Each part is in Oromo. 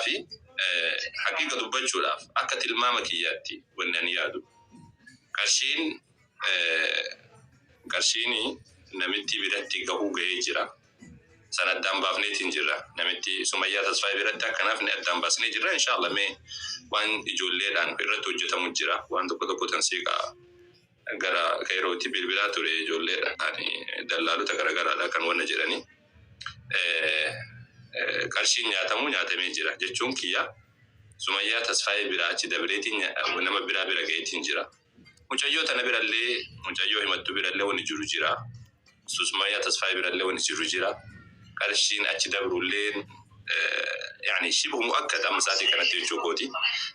fi haqiiqa dubbachuudhaaf akka tilmaama kiyyaatti wanni ani yaadu qarshiin qarshiin namittii biratti gahuu gahee jira. San addaan baafneetiin jirra. Namitti Sumayyaa Tasfaayee biratti akka nafne addaan baasnee jirra. Inshaallah mee waan ijoolleedhaan irratti hojjetamu jira. Waan tokko tokko tan siiqaa Gara Kayirootii bilbilaa ture ijoolleedha ani dallaalota garagaraadha kan wanna jedhani qarshiin nyaatamuu nyaatamee jira jechuun kiyya Sumayyaa Tasfaayee biraa achi dabreetiin nama biraa bira gaheetiin jira mucayyoo tana birallee mucayyoo himattuu birallee wanni jiru jira Susmaya Tasfaye birallee wani jiru jira qarshiin achi dabrulleen yani shibhu mu'akkad amma sa'atii kanatti jechuu kooti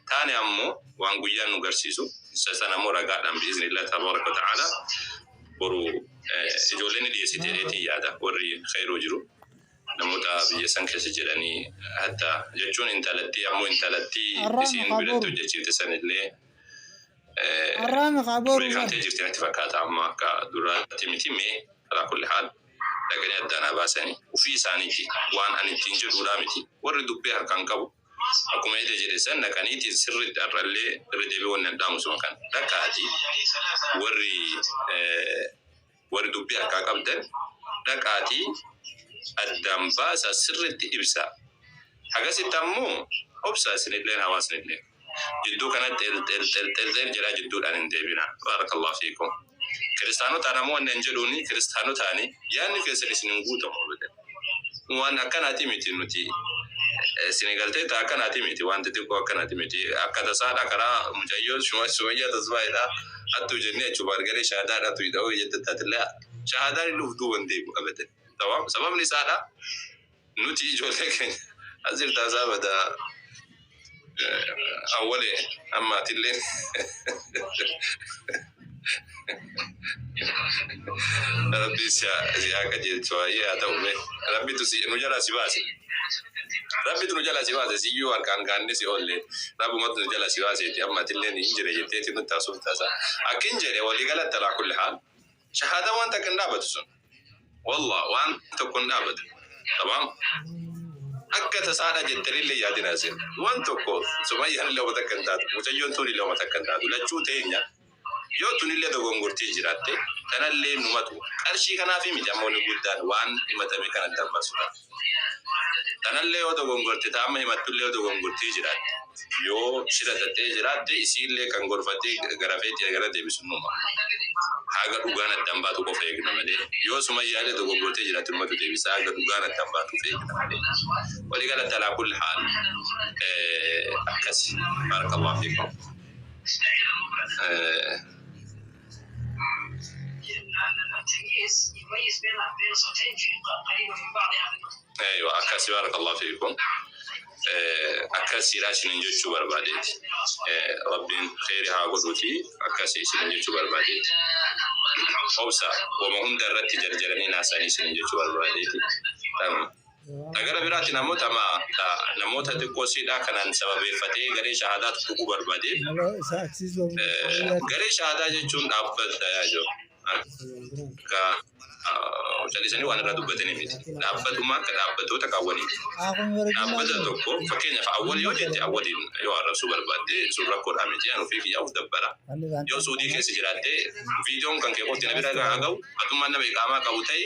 taane ammo waan guyyaan nu garsiisu isa san ammo ragaadhaan bi'iznillah tabaaraka wa ta'ala boru ijoolleen ni dhiyeessite jedheetiin yaada warri khayroo jiru namoota biyya san keessa jedhanii hatta jechuun intalattii ammoo intalattii isiin biratti hojjechiifte sanillee Arraama kaa booruu bara. Beekamtee jirti natti fakkaata amma akka duraatti miti mee alaa kulli haal dhaqanii addaan haa baasani ufii isaaniiti waan ani ittiin jedhuudhaa miti warri dubbee harkaan qabu akkuma ede jedhe san dhaqaniiti sirritti har'allee irra deebi'ee wanni an dhaamu suma kana dhaqaati warri Warri dubbii harkaa qabdan dhaqaatii addaan baasaa sirriitti ibsaa. Hagasitti ammoo obsaa isinilleen hawaasnilleen. Jidduu kana xel xel xel xel xel jedhaa jidduudhaan hin deebinaa. Baarakallahu fiikum. Kiristaanotaan ammoo wanni an jedhuuni kiristaanotaani yaanni keessan isin hin guutamu abadan. Waan akkanati miti nuti sini galtee ta akkanati miti waan xixiqqoo akkanati miti akka tasaadha karaa mucayyoo shuma sumayyaa tasfaayidha hattuu jennee achuu baargaree shahadaa dhatu hidha hoo jette taatille shahadaa inni uf duuban deebu abadan tawaam sababni isaadha nuti ijoollee keenya asirta asaa badaa Awwalee amma atilleen rabbi si haa qajeelchu waayee haa ta'u mee rabbitu si nu jalaa si baase rabbitu nu jalaa si baase siyyuu harkaan kaannee si oolle rabbumatu nu jalaa si baaseeti amma atilleen hin jire jetteeti nutti haasoftaasa akkin jedhe walii galatta laa kulli haal Shahaada waan takka hin dhaabatu sun. Wallah waan tokko hin dhaabatu. Tabaam. Akka tasaadha jettanillee yaadina isin. Waan tokko sumayyaan illee waan takka hin taatu. Mucayyoon tuun illee waan takka hin taatu. Lachuu teenya yoo tunillee dogongortee jiraatte tanallee numatu qarshii kanaafi miti ammoo inni guddaan waan himatame kana dabarsuudhaaf. Tanallee yoo dogongorte ta amma himattullee yoo dogongortii jiraat yoo shira xaxee jiraatte isiillee kan gorfatee garafee tee gara deebisu numa. Haga dhugaan addaan baatu qofa eegna malee yoo sumayyaallee dogongortee jiraatte numatu deebisa haga dhugaan addaan baatuuf eegna malee. Walii galatti alaa kulli haal akkasi. Baarakallahu fiikum. ايوه akkas barakallahu fiikum akkas siidha isinin jechuu barbaadeeti rabbiin kheyri haa godhuuti akkas isinin jechuu barbaadeeti obsa wama hunda irratti jarjaranii naasanii isinin jechuu barbaadeeti Ta gara biraatiin ammoo tama ta namoota xiqqoo siidhaa kanaan sababeeffatee garee shahaadaa tuttuquu barbaade. Garee shahaadaa jechuun dhaabbata yaa jiru. Akka callisanii waan irraa dubbatanii miti. Dhaabbatuma akka dhaabbatoota kaawwaniiti. Dhaabbata tokko fakkeenyaaf awwal yoo jette awwaliin yoo arrabsuu barbaadde sun rakkoodhaa miti an ofii kiyyaa of dabbara. Yoo suudii keessa jiraatte viidiyoon kan kee qofti na bira haa ga'u atummaan nama iqaamaa qabu ta'i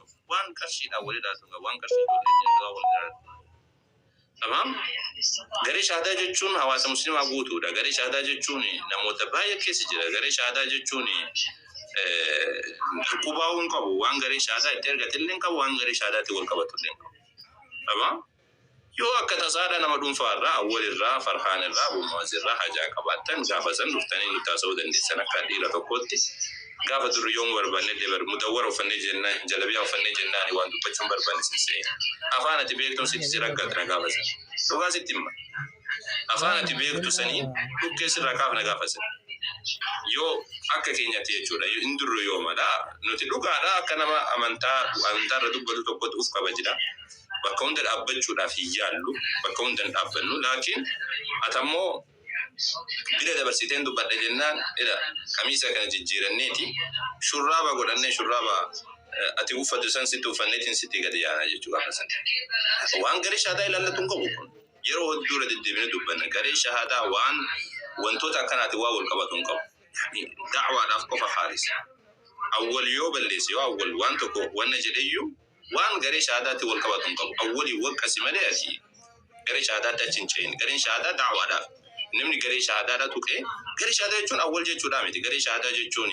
Waan qarshiidhaan wal ilaaltu egaa waan qarshii ijoollee keenya duraa wal ilaaltu. Tamam. Garee shahaadaa jechuun hawaasa muslimaa guutuudha. Garee shahaadaa jechuun namoota baay'ee keessa jira. Garee shahaadaa jechuun dhukkubaa'uu hin qabu. Waan garee shahaadaa itti argate illee hin qabu. Waan garee shahaadaatiin wal qabatu illee hin qabu. Tamam. Yoo akka tasaadha nama dhunfaa irraa, Awwal irraa, Farhaan irraa, Abu Mu'az irraa hajaa qabaattan gaafa san dhuftanii nutti haasa'uu dandeessan akka dhiira tokkootti. Gaafa durri yoomuu barbaannellee bar mudawwara uffannee jennaan, jalabiyaa uffannee jennaani waan dubbachuu hin barbaanne sin se'e. Afaan ati beektuun sitti sirra gatna gaafa san. Dhugaa sitti himma. Afaan ati beektu saniin dhukkee sirraa kaafna gaafa san. Yoo akka keenyatti jechuudha. Hin durru yoomadha. Nuti dhugaadha akka nama amantaa amantaa irra dubbatu tokkootti uf kabajna. bakka hunda dhaabbachuudhaaf hin yaallu bakka hunda hin dhaabbannu laakiin ati ammoo bira dabarsiteen dubbadha jennaan ila kamiisa kana jijjiiranneeti shurraaba godhannee shurraaba ati uffatu san sitti uffanneetiin sitti gadi yaana jechuu gaafa san waan garee shahaadaa ilaallatu hin qabu kun yeroo hedduu irra deddeebine dubbanna garee shahaadaa waan wantoota akkanaati waa wal qabatu hin qabu da'waadhaaf qofa haalis awwal yoo balleesse yoo awwal waan tokko wanna jedheyyuu Waan garee shahaadaatti wal qabatu hin qabu. Awwalii waqqasi malee ati garee shahaadaatti achi hin ce'in. Gareen shahaadaa da'waadhaaf. Namni garee shahaadaadha tuqee garee shahaadaa jechuun awwal jechuudhaa miti. Garee shahaadaa jechuun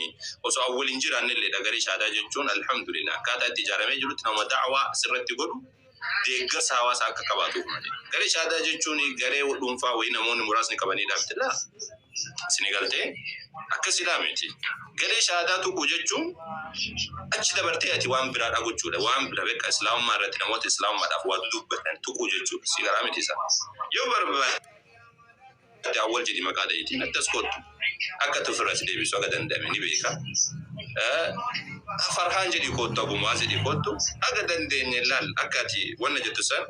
osoo awwal hin jiraanne illeedha. Garee shahaadaa jechuun alhamdulillah akkaataa itti ijaaramee jirutti nama da'waa asirratti godhu deeggarsa hawaasaa akka qabaatuuf malee. Garee shahaadaa jechuun garee dhuunfaa wayii namoonni muraasni qabaniidha miti laa. Sini galtee? Akka silaa miti. Galee shahaadaa tuquu jechuun achi dabartee ati waan biraadhaa gochuudha. Waan bira beekaa islaamummaa irratti namoota islaamummaadhaaf waa dudubbatan tuquu jechuudha. Si galaa miti isaa. Yoo barbaadde awwal jedhi maqaa dhahitiin addas kottu. Akka itti ofirraa si deebisu haga danda'ame ni beeka. Farhaan jedhi kottu abu mu'aaz jedhi kottu haga dandeenye laal akka ati wanna jettu san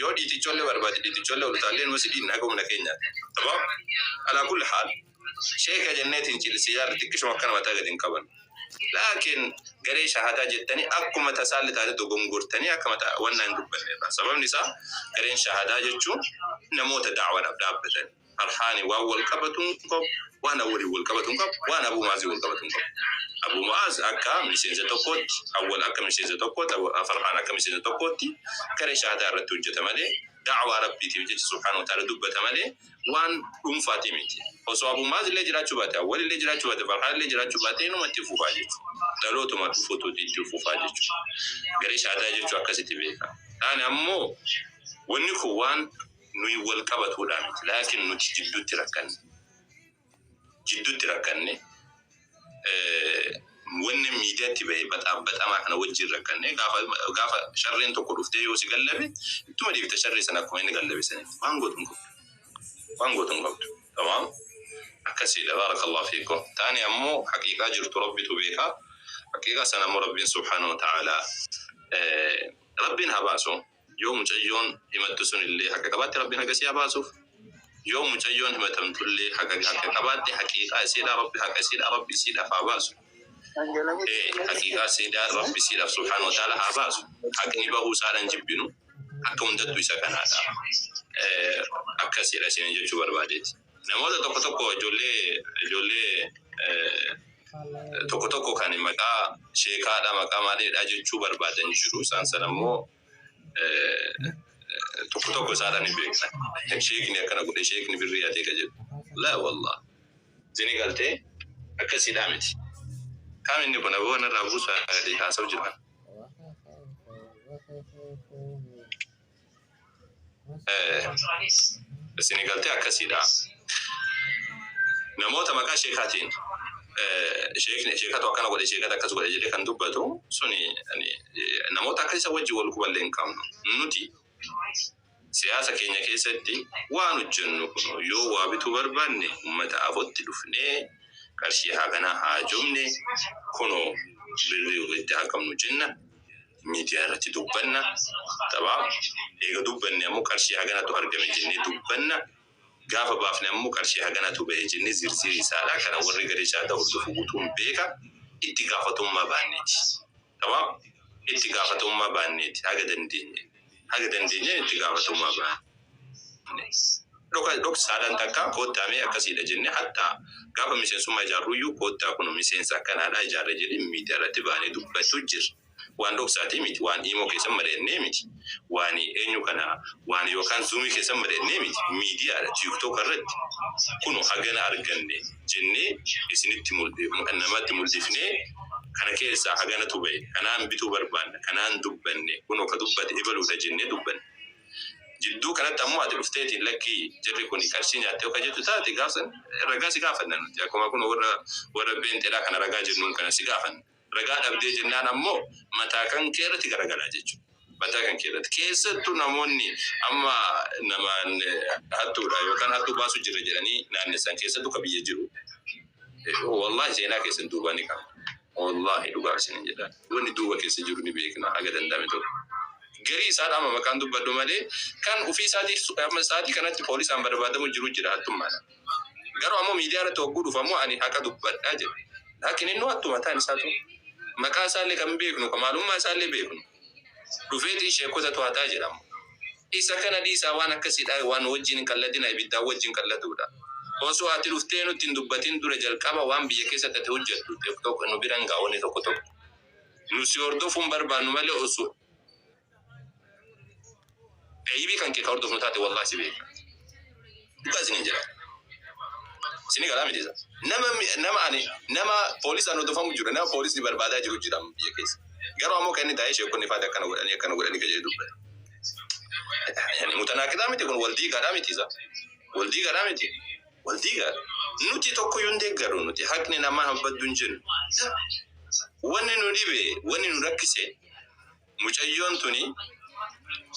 Yoo dhiiticholle barbaade dhiiticholle ol utaallee numa si dhiinna haga humna keenyaati. Tamaam? Alaa kulli haal, sheeka jennee tincil si yaalla xiqqishuma akkana mataa gad hin qabannu. Laakiin garee shahaadaa jettanii akkuma tasaalle taate dogongortanii akka mata wannaa hin dubbanne irraa. Sababni isaa gareen shahaadaa jechuun namoota da'awadhaaf dhaabbatanii. Farhaani waan wal qabatu hin qabu, waan Awwaliin wal qabatu hin qabu, waan Abuu Mu'aaziin wal qabatu hin qabu. Abuu Mu'aaz akka miseensa tokkootti, Awwal akka miseensa tokkootti, Farhaan akka miseensa tokkootti garee shahaadaa irratti hojjeta malee, da'waa Rabbiitiif jecha subhaanahu wa ta'aala dubbata malee waan dhuunfaatii miti. Osoo Abuu Mu'aaz illee jiraachuu baate, Awwal illee jiraachuu baate, Farhaan illee jiraachuu baate inuma itti fufaa jechuudha. Dhalootuma dhufutu itti fufaa jechuudha. Garee shahaadaa jechuun akkasitti beekama. Taane ammoo wanni kun waan Nuyi wal qabatuudhaa miti, laakiin nuti jidduutti rakkanne. Jidduutti rakkanne. Wanni miidiyaatti bahe baxaabaxamaa kana wajjin rakkanne. Gaafa gaafa sharreen tokko dhuftee yoo si gallabe ittuma deebita sharree sana akkuma inni gallabe sanitti. Waan gootu hin qabdu. Waan gootu hin qabdu. Tamaam. Akkasiidha baarakallahu fiikum. Taani ammoo haqiiqaa jirtu Rabbitu beeka. Haqiiqaa sana ammoo Rabbiin subhaanahu wa ta'aalaa Rabbiin haa baasu. Yoo mucayyoon himattu sun illee haqa qabaatte Rabbiin haqa isii haa baasuuf. Yoo mucayyoon himatamtu illee haqa haqa qabaatte haqiiqaa isiidhaa Rabbi haqa isiidhaa Rabbi isiidhaaf haa baasu. Ee haqiiqaa isiidhaa Rabbi isiidhaaf subhaanahu wa ta'aalaa haa baasu. Haqni bahuu isaadha hin jibbinu. Akka hundattu isa kanaadha. Ee akkasiidha isiin jechuu barbaadeeti. Namoota tokko tokko ijoollee ijoollee tokko tokko kan maqaa sheekaadha maqaa maaliidha jechuu barbaadan jiru isaan sana immoo tokko tokko isaadhaan hin beekna sheekni akkana godhe sheekni birrii hatee ka jedhu laa wallah zini galtee akkasiidhaa miti kaam inni kun aboo narraa buusaa haasawu jira Isin galte akkasiidha. Namoota maqaa sheekaatiin sheekni sheekatu akkana godhe sheekatu akkas godhe jedhee kan dubbatu suni namoota akka isa wajjin wal quballee hin qabnu. Nuti siyaasa keenya keessatti waan hojjennu kun yoo waa bituu barbaanne uummata afotti dhufnee qarshii haaganaa haajomne kunoo birrii walitti haaqabnu jenna. miidiyaa irratti dubbanna taphaa eega dubbanne ammoo qarshii haganatu argame jennee dubbanna gaafa baafne ammoo qarshii haganatu bahe jennee zirzirii isaadha kana warri garee caadaa hordofu gutuun beeka itti gaafatummaa baanneeti taphaa itti gaafatummaa baanneeti haga dandeenye haga dandeenyeen itti gaafatamummaa baane. Dhoka dhoksaadhaan takkaa koottaa mee akkasiidha jennee hatta gaafa miseensummaa ijaarruyyuu koottaa kuno miseensa akkanaadhaa ijaarre jedhee miidiyaarratti baanee dubbachuu jirra. Waan dhoksaatii miti, waan iimoo keessan mari'annee miti, waan eenyu kana waan yookaan zuumii keessan mari'annee miti, miidiyaadha tiiktooka irratti kuno hagana arganne jennee isinitti namatti muldhifnee. Kana keessaa haganatu ba'e, kanaan bituu barbaanna, kanaan dubbanne, kunoo ka dubbate ebaluudha jennee dubbanna. Jidduu kanatti ammoo ati dhufteeti lakkii jarri kuni qarshii nyaatte yoo ka jettu taate gaaf san ragaa si gaafanna nuti. Akkuma kunoo warra warra pheenxeedhaa kana ragaa jennuun kana si gaafanna. Ragaa dhabdee jennaan ammoo mataa kankee irratti garagala jechuudha. Mataa kan kee irratti. Keessattu namoonni amma nama hattuudha yookaan hattuu baasu jirra jedhanii naannessan keessattu ka biyya jiru. Wallahi seenaa keessan duubaa ni qabna. Wallahi dhugaa isinin jedha. Wanni duuba keessa jiru ni beekna haga danda'ame tokko. Garii isaadha amma maqaan dubbadhu malee kan ufii isaatii amma sa'aatii kanatti poolisaan barbaadamu jiru jira hattummaadha. Garuu ammoo miidiyaa irratti hogguu dhufu ammoo ani haqa dubbadha jedhe. Laakiin innuu hattuu mataan isaatu maqaa isaallee kan beeknu ka maalummaa isaallee beeknu dhufeeti sheekkota to'ataa jedha ammoo. Isa kana dhiisaa waan akkasii dha waan wajjiin hin qalladinaa ibiddaan wajjiin qalladuu dha. Osoo ati dhuftee nutti hin dubbatin dura jalqaba waan biyya keessatti ati hojjattu tokko tokko nu bira hin ga'a wanni tokko tokko. Nu si hordofuun barbaannu malee osoo. Eyibii kan kee ka hordofnu taate wallahi si beeka. Dhugaa isiniin jedha. Isinii galaa miti isa. Nama nama ani nama poolisaan hordofamu jiru nama poolisni barbaadaa jiru jira biyya keessa. Garuu ammoo kan inni taa'ee sheekonni faati akkana godhanii akkana godhanii ka jedhu dubbata. Yani mutanaaqidaa miti kun wal diigaadhaa miti isa. Wal diigaadhaa miti. Wal diigaa. Nuti tokko yoo hin deeggaru nuti haqni namaa hin baddu hin jennu. Wanni nu dhibe wanni nu rakkise Mucayyoon tuni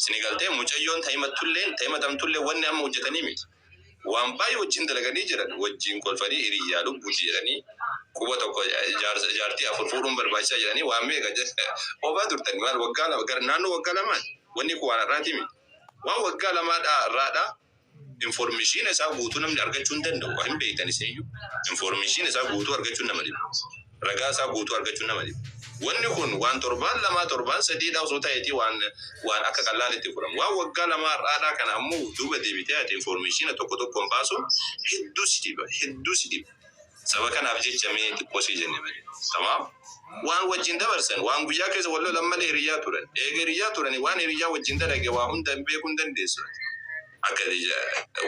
sini galtee mucayyoon tahimattulleen tahimatamtulleen wanni amma hojjatanii miti waan baay'ee wajjiin dalaganii jiran wajjiin kolfanii hiriyyaa lubbuti jedhanii quba tokko jaarsa jaartii afur fuudhuun barbaachisaa jedhanii waan meeqa oofaa turtanii maal waggaa lama gara naannoo waggaa lamaa wanni kun waan har'aati miti waan waggaa lamaa dhaa irraa dhaa Informeeshiina isaa guutuu namni argachuu hin danda'u. Hin beektan isiniyyuu. Informeeshiina isaa guutuu argachuun nama dhiba. Ragaa isaa guutuu argachuun nama dhiba. Wanni kun waan torbaan lamaa torbaan sadiidhaa osoo ta'eetii waan waan akka qallaalitti fudhama. Waan waggaa lamaa har'aadhaa kana ammoo duuba deebitee ati informeeshiina tokko tokkoon baasuun hedduu si dhiba. Hedduu si dhiba. Saba kanaaf jecha mee xiqqoo sii jenne malee. Tamaam? Waan wajjin dabarsan, waan guyyaa keessa wal lolan malee hiriyyaa turan. Eega hiriyyaa turanii waan hiriyyaa wajjin dalage waa hunda hin beekuu hin dandeessu ati. Akka ati ja,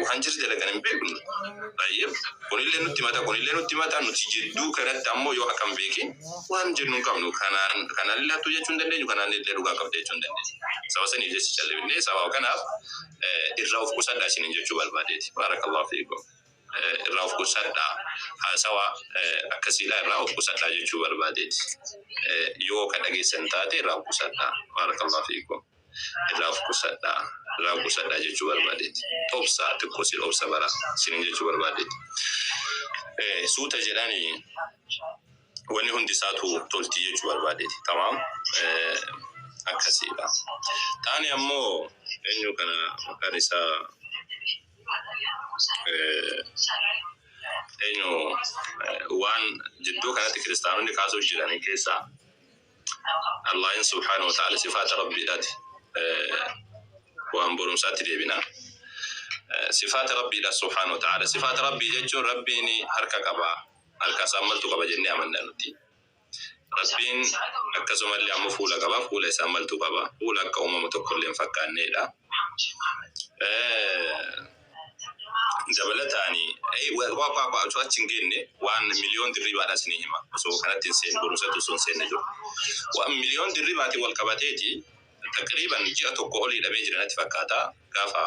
waan jara dalagan hin beeknu nuti. Baay'ee. Kunillee nutti himata, kunillee nutti himata, nuti jidduu kanatti ammoo yoo akka hin beekin waan jennu hin qabnu. Kanaan, kanaallee hattuu jechuu hin dandeenyu, kanaanillee dhugaa qabda jechuu hin dandeenyu. Saba saniif jecha callifnee saba kanaaf irraa of qusadhaa isiniin jechuu barbaadeeti. Baarakallahu fiikum. irraa of qusadhaa haasawaa akkasiidhaa irraa of qusadhaa jechuu barbaadeeti yoo ka dhageessan taate irraa of qusadhaa baarakallahu fiikum irraa of qusadhaa irraa of qusadhaa jechuu barbaadeeti obsa xiqqoo sin obsa bara sin jechuu barbaadeeti suuta jedhani wanni hundi isaatu tolti jechuu barbaadeeti tamaam akkasiidha taani ammoo eenyu kana maqaan isaa Eenyu waan jidduu kanatti kiristaanonni kaasuuf jiranii keessaa Allaahin subhaanahu wa ta'aala sifaata rabbiidhaati waan borumsaatti deebina. Sifaata rabbiidha subhaanahu wa ta'aala. Sifaata rabbii jechuun rabbiin harka qaba harka isaa maltu qaba jennee amanna nuti. Rabbiin akkasumallee ammoo fuula qaba. Fuula isaa maltu qaba? Fuula akka uumama tokkollee hin fakkaanneedha. Dabalataan osoo achi hin geenne waan miliyoon dirribaadha isinii hima. Osoo kanatti hin seenne barumsatti osoo hin seenne jiru. Waan miliyoon dirribaatiin wal qabateeti taqriiban ji'a tokko olii dhamee jira natti fakkaata gaafa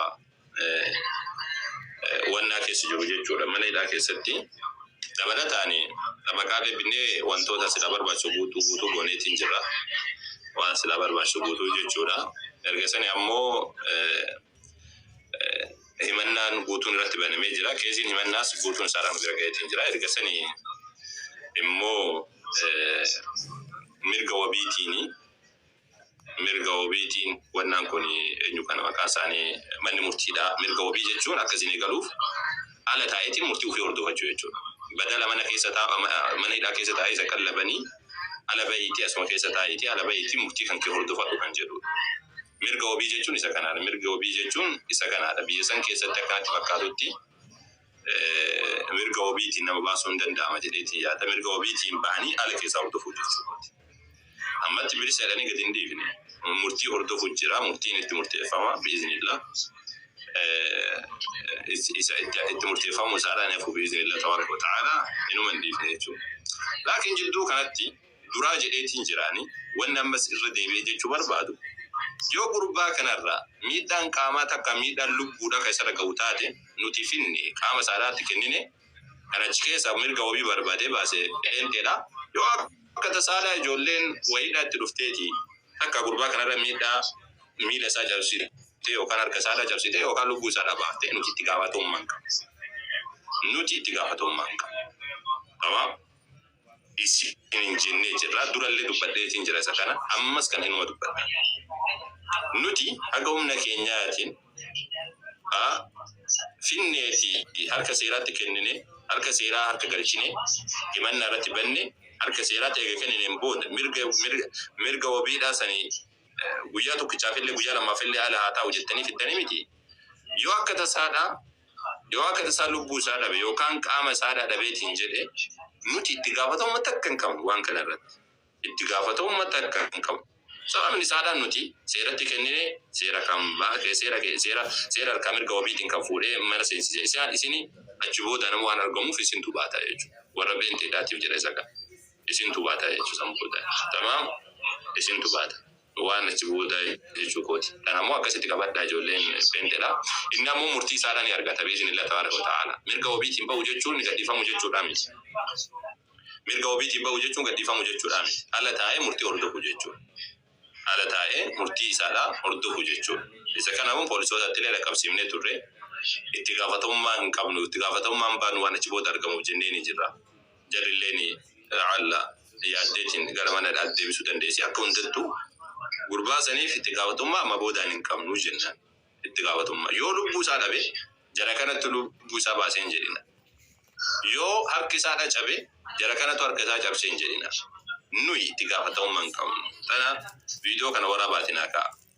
to'annaa keessa jiru jechuudha mana hidhaa keessatti. Dabalataan xabaqaa deebinee wantoota silaa barbaachisu guutuu guutuu gooneetiin jirra. Waan silaa barbaachisu guutuu jechuudha. Erga sani ammoo himannaan guutuun irratti banamee jira. Keesiin himannaas guutuun isaa irraan bira ga'eetiin jira. Erga sani immoo mirga wabiitiini. Mirga wabiitiin wannaan kun eenyu kana maqaa isaanii manni murtiidha mirga wabii jechuun akka isin eegaluuf ala taa'eetiin murtii ufii hordofachuu jechuudha badala mana keessa taa mana hidhaa keessa taa'ee isa qallabanii ala ba'iitii asuma keessa taa'iitii ala ba'iitii murtii kan kee hordofadhu kan jedhuudha mirga wabii jechuun isa kanaadha mirga wabii jechuun isa kanaadha biyya san keessatti akkanatti fakkaatutti mirga wabiitiin nama baasuun ni danda'ama jedheetiin yaada. Mirga wabiitiin bahanii ala keessaa hordofuu jechuu kooti. Ammatti bilisa jedhanii gadi hin dhiifne. Murtii hordofu jira, murtiin itti murteeffama bi'iznillah. Isa itti murteeffamu isaadhaan hafu bi'iznillah tabaaraka wa ta'aalaa inuma hin dhiifne jechuudha. Laakiin jidduu kanatti duraa jedheetiin jiraani wanni ammas irra deebi'ee jechuu barbaadu yoo gurbaa kanarra miidhaan qaamaa takka miidhaan lubbuudha ka isarra gahu taate nuti finne qaama saalaatti kennine kan achi keessa mirga wabii barbaadee baase pheenxeedha yoo akka tasaalaa ijoolleen wayiidhaa itti dhufteeti takka gurbaa kanarra miidhaa miila isaa cabsite yookaan harka isaarra cabsite yookaan lubbuu isaarra baafte nuti itti gaafatamummaa hin qabnu nuti itti gaafatamummaa hin qabnu tamam isiniin jennee jirra. Durallee dubbadheetiin jira isa kana. Ammas kana inuma dubbadha. Nuti haga humna keenyaatiin a finnee fi harka seeraatti kennine, harka seeraa harka galchine, himannaa irratti banne, harka seeraatti eega kennineen booda mirga mirga mirga wabiidhaa sani guyyaa tokkichaafillee guyyaa lammaafillee ala haa taa'u jettanii fiddanii miti. Yoo akka tasaadhaa Yoo akan isaa lubbuu isaa dhabe yookaan qaama isaa dhadhabeetiin jedhe nuti itti gaafatamumma takka hin qabnu waan kana irratti. Itti gaafatamumma takka hin qabnu. Sababni isaadhaan nuti seeratti kennine seera kan seera seera seera harkaa mirga wabiitiin kan fuudhee mana seensise isaan isini achi booda nama waan argamuuf isintu baata jechuudha. Warra beenteedhaatiif jedha isa kan isintu baata jechuudha san booda. Tamaam isintu baata. waan achi booda jechuu kooti. Kana immoo akkasitti qabadhaa ijoolleen pheenxedha. Inni ammoo murtii isaadha ni argata bi'iznillah tabaaraka wata'aalaa. Mirga wabiitiin ba'u jechuun gadhiifamuu jechuudhaa miti. Mirga wabiitiin ba'u jechuun gadhiifamuu jechuudhaa miti. Ala taa'ee murtii hordofuu jechuudha. Ala taa'ee murtii isaadha hordofuu jechuudha. Isa kana immoo poolisootattillee dhaqqabsiifnee turre. Itti gaafatamummaa hin qabnu. Itti gaafatamummaan baanu waan achi booda argamuuf jenneeni jirra. Jarilleen la'alla yaaddeetiin gara mana hidhaatti deebisuu dandeessi. Akka hundattuu gurbaa saniif itti gaafatamummaa amma boodaan hin qabnu jennaan. Itti gaafatamummaa. Yoo lubbuu isaa dhabe jara kanatti lubbuu isaa baasee hin jedhina. Yoo harki isaa dhacabe jara kanatu harka isaa cabsee hin jedhina. Nuyi itti gaafatamummaa hin qabnu. Tana viidiyoo kana waraabaatiin haa ka'a.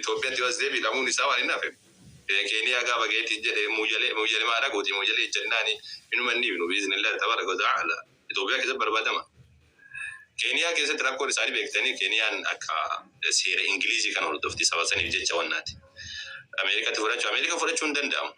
Itoophiyaatti yoo as deebi'e hidhamuun isaa waan hin hafeef beekeeni hagaa bageeti hin jedhee Muyyale Muyyale maa dhaquuti Muyyale ijjannaani hinuma hin dhiifnu biiznillahi tabaaraka wa ta'aala Itoophiyaa keessatti barbaadama Keeniyaa keessatti rakkoon isaani beektani Keeniyaan akka seera Ingiliizii kana hordofti saba saniif jecha wannaati Ameerikatti fudhachu Ameerika fudhachu hin danda'amu.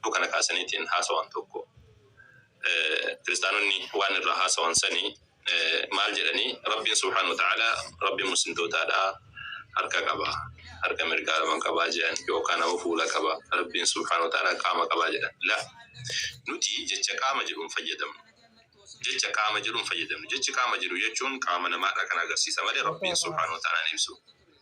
Oduu kana kaasaniitiin haasawan tokko kiristaanonni waan irraa haasawan sani maal jedhanii Rabbiin subhaanahu wa ta'aalaa Rabbi muslimtootaadhaa harka qaba harka mirgaa lama qaba je'an yookaan ammoo fuula qaba Rabbiin subhaanahu wa ta'aalaa qaama qaba jedhan la nuti jecha qaama jedhu hin fayyadamnu jecha qaama jedhu hin fayyadamnu jechi qaama jedhu jechuun qaama namaadhaa kan agarsiisa malee Rabbiin subhaanahu wa ta'aalaa hin ibsu